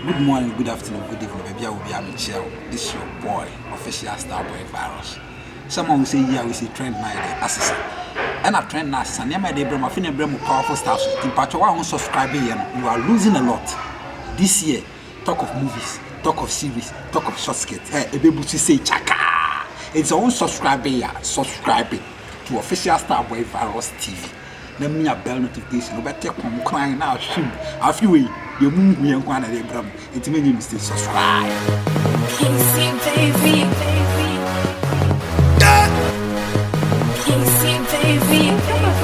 Good morning, good afternoon, good evening, baabi a obiara mekyia wo. This is your boy, official star boy virus. Sɛ mo sɛ yi a wosi trend na yɛde asesa. Ɛna trend na asesa nneɛma yɛde brɛ mo afei na ɛbrɛ mo powerful star so. Mpatwa wa ho subscribe yɛ no, you are losing a lot. This year, talk of movies, talk of series, talk of short skit. Hey, ebe busu say chaka. It's on subscribe ya, subscribe to official star boy virus TV. na me nya bɛl no temptation wobɛ te kɔm kran na ahwim afi wei deɛ mu nhu yɛn kwan na ɛde bra mu nti me nye mistake subscribe Kingsley baby baby Kingsley baby baby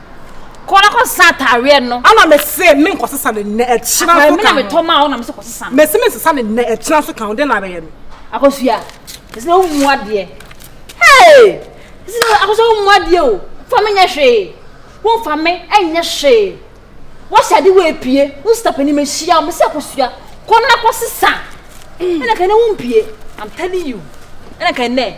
Kɔ na kɔ sesa ataareɛ no. Ana me se me nkɔ sesa ne nnɛ ɛkyena so kan. Me na me tɔ maa wo na me se kɔ sesa no. Me se me nsesa ne nnɛ ɛkyena so kan wo den na abɛyɛ no. Akosua, ɛsɛ na wo mu adeɛ. Hey! Ɛsɛ na akosua wo mu adeɛ o. Fa me nyɛ hwee. Wo fa me ɛnyɛ hwee. Wahyɛ ade wo epie. Wo stop anim ahyia wo. Me se akosua, kɔ na kɔ sesa. Ɛna kan ne wo mpie. I'm telling you. Ɛna kan ne.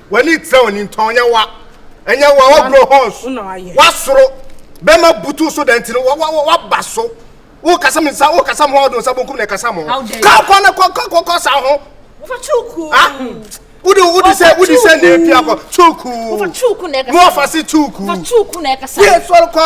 W'ani trɛ w'ani ntɔ nyɛ wa ɛnyɛ wa w'agorɔ hɔns w'asoro bɛma butu so dɛ nti no w'aba so wokasa mi sa wokasa mo ɔdo nsa bonkum na ɛkasa mo ka kɔ na kɔ kɔ kɔ sa ho ah wode wode sɛ wode sɛ na efi akɔ tuuku mo ɔfa se tuuku yɛ sɔre kɔ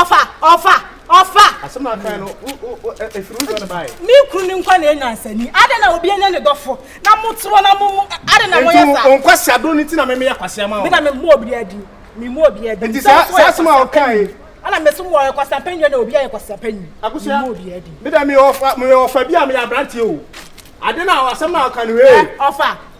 ɔfa ɔfa ɔfa. asɛm na kan no efiri wo dɔn baa yi. mi kuru ni nkwa na enya nsani adi na obi enya ne dɔfo na mo turo na mo mu adi na mo yɛ sa. ntu nkwasi ado ni ti na mi mi yɛ kwasi ama wɔn. mi na mi mu obi adi mi mu obi adi. nti saa saa asɛm a ɔkan yi. ɛna mesi mu ɔyɛ kwasi apɛnyi na obi ayɛ kwasi apɛnyi. akusua mi mu obi adi. mi dɛ mi yɛ ɔfa mi yɛ ɔfa bi a mi yɛ aberanteɛ o adi na asɛm na ɔkan ni wei. ɔfa.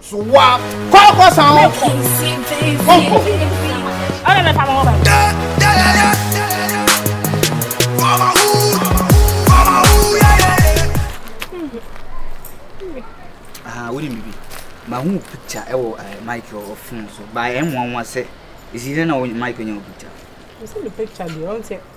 So wa kɔ kɔ san o kɔ o kɔ. Ɔna mɛ fa mo ho bɛ. Ah, wodi mi bi. Ma hu picture ɛwɔ eh, Michael ɔfun so. Ba ɛnwanwa sɛ. Esi dɛ na wo Michael nya wo picture. Ɔsɛ mi picture deɛ ɔn sɛ.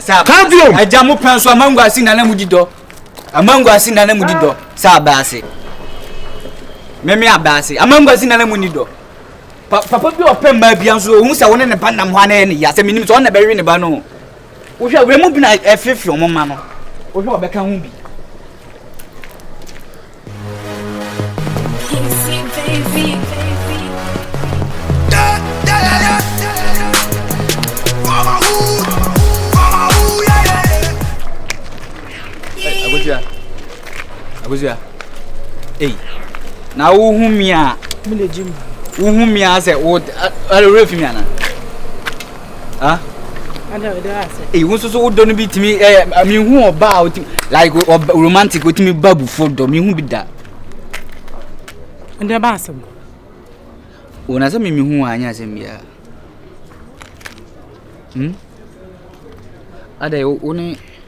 Sa Kavium. Agya mo pɛn so amangu ase nana mu di dɔ. Amangu ase nana mu di dɔ. Sa abase. Meme abase. Amangu ase nana mu ni dɔ. Papa bi ɔpɛ mmaa bi nso ohun sɛ wɔne ne ba nam hɔ anayɛ ne ya sɛ menim sɛ ɔna bɛwe ne ba no. Wohwɛ wura mu bi na ɛfefe wɔn mma no. Wohwɛ ɔbɛka ho bi. abusua ei na wohu mi a wohu mi a sɛ wo ɛrɛ fi mi ana. ah eyi wo soso wodɔ no bi tumi ɛyɛ eh, mehu ɔba a wotumi like ɔba romantic wotumi ba abufo dɔ mehu bi da ɛdɛ ba asɛm wɔn asɛm mi mehu wɔn anyɛ asɛm biara hmm adɛ wo ne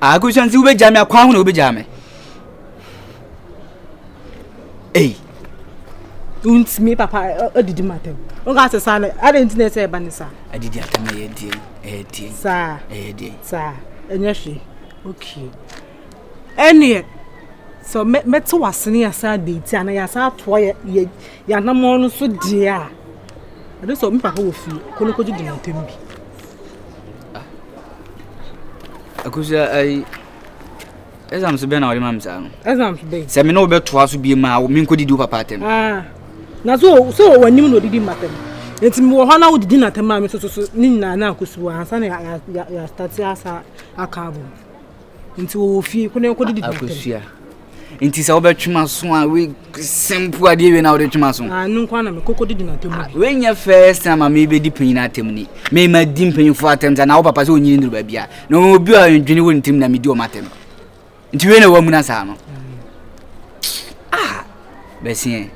Akusua nti wobɛgya me akwan ho na wobɛgya me. Ei. Wontumi papa adidi ma tɛm. Woka sɛ saa no adɛn nti na ɛsɛ ɛba ne saa? Adidi atɛm ɛyɛ deɛ ɛyɛ deɛ. Saa. Ɛyɛ deɛ. Saa. Ɛnyɛ hwee. Okay. Ɛneɛ sɛ mɛte wasene yɛsan date ana yɛsan atoa yɛ yɛanamɔ no so deɛ a ɛno sɛ me papa wɔ fie kɔ no kɔgye di ma tɛm bi. Akosua ayi exams bɛn na wɔde ma mi saa no. exams bɛn. sɛ mi n'o bɛ to aso bie ma mi nko didi o papa atɛm. Ah. na so so wɔ anim na odidi ma tɛm nti mi wɔ hɔ na odidi na tɛm a mi soso so ne nyinaa na akosua ansa na yɛ yɛ yɛ asitati asa aka abom. Nti wɔwɔ fie kɔ na yɛnkɔ didi dɛntɛm. Akosua. Nti sɛ wobɛtwe m'aso a we simple adeɛ wei na wode twe m'aso. Ah no nkwa na me koko didi n'atɛm mu. Ah, wei nyɛ first time a mebɛdi panyin atɛm ni. Me ma di mpanyinfoɔ atɛm sɛ na wo papa sɛ onyini nduru baabi a. Na obi a ndwene wɔ ne tirim na medi wɔn atɛm. Nti wei na wamuna saa no. Ah, bɛsiɛ.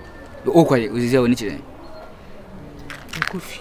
Wokɔ ye, wosisɛ wɔ ne kyerɛ. Nkɔ fie.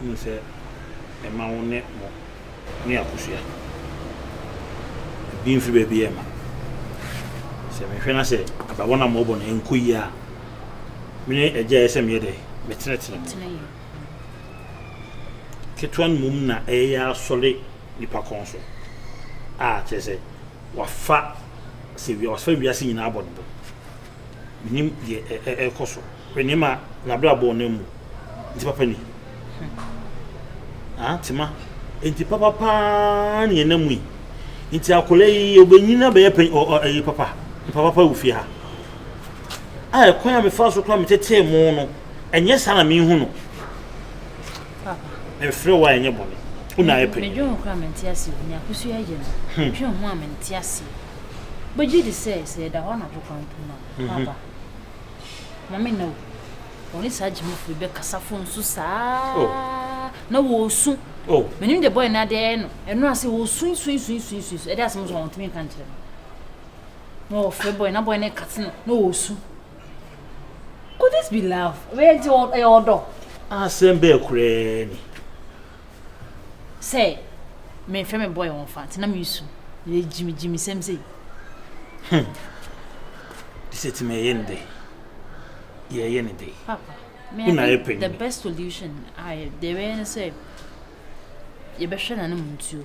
Wonim sɛ ɛma wo ne mo ne akosua di mfe baabi yɛ ma. Sɛ mehwɛ na sɛ abawa no a mobɔ no ɛnkɔ yie a, me ne agya yɛ sɛ meyɛ dɛ metenetene mu. Ketewa no mmom na ɛyɛ asɔre nipa kɔn so a kyerɛ sɛ wafa sɛ wafa wiase nyinaa abɔ no bo. Menim deɛ ɛkɔ so. Hwɛ nneɛma a n'abrabɔ no mu nti papa ni. Ah, Tema, enti papa paa ne ɛna mu yi. Nti akwadaa yi obenyin na bɛyɛ pɛn ɔ ɔ ɛyi papa. Mpa papa wɔ fie ha. A ɛkwan a mefa so kora metetee mo no, ɛnyɛ saa na mehu no. Mefrɛ wo a ɛnyɛ bɔne. Wo na ayɛ pɛn. Medwe ho kora mente ase o, nea akosu ayɛ no. Medwe ho a mente ase. Bɛgye di sɛ sɛ ɛda hɔ anadwo kwan mpo no a, papa. Maame nna o, wɔne saa gyimifo yi bɛkasa fon so saa oh. na wɔresu. Oh. Menim deɛ bɔyɛ no adeɛ ɛyɛ no, ɛno ase wɔresuisuisuisuisu ɛde asɛm so wɔntumi nka nkyerɛ no. Na wɔfrɛ bɔyɛ na bɔyɛ no kate no na wɔresu. Could this be love? Ɛyɛ ɔdɔ. Asɛm bɛɛ koraa ni. sɛ menhwɛ me boy wɔn fa nti na mesu yɛ gyimi gyimi sɛm sei. Hmm. Sɛ tumi ɛyɛ ne dɛ yɛyɛ ne dɛ. Papa, me na yɛ panyin. The best solution a yɛ deɛ yɛbɛyɛ ne sɛ yɛbɛhwɛ n'anom ntuo.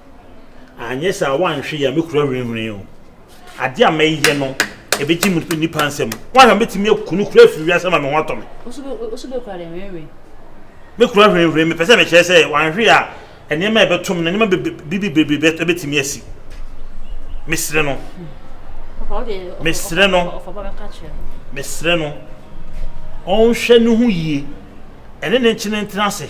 Anyɛ saa a, woanhwɛ yie a, mɛkura hwinhwini o. Adeɛ a mɛyɛ no, ɛbɛgye me nnipa nsam. Woanhwɛ a, mɛtumi aku no koraa afiri wiase ama me ho atɔ me. Woso bɛkura dɛ hwinhwini? Mɛkura hwinhwini. Mepɛ sɛ mekyerɛ sɛ woanhwɛ yie a, nneɛma a ɛbɛto me no, nneɛma bebrebe bɛtumi asi. Mesrɛ no. Mesrɛ no. Mesrɛ no. Ɔnhwɛ ne ho yie. Ɛne no nkyene ntena ase.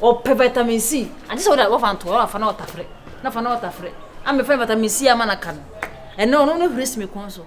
ɔpɛ vitamin c agye sɛ wode wafa nto hɔ wafa na ɔtafere na fa na ɔtafere ama fɛn vitamin c ama no aka no ɛno ɔno no hwere si me kɔn so.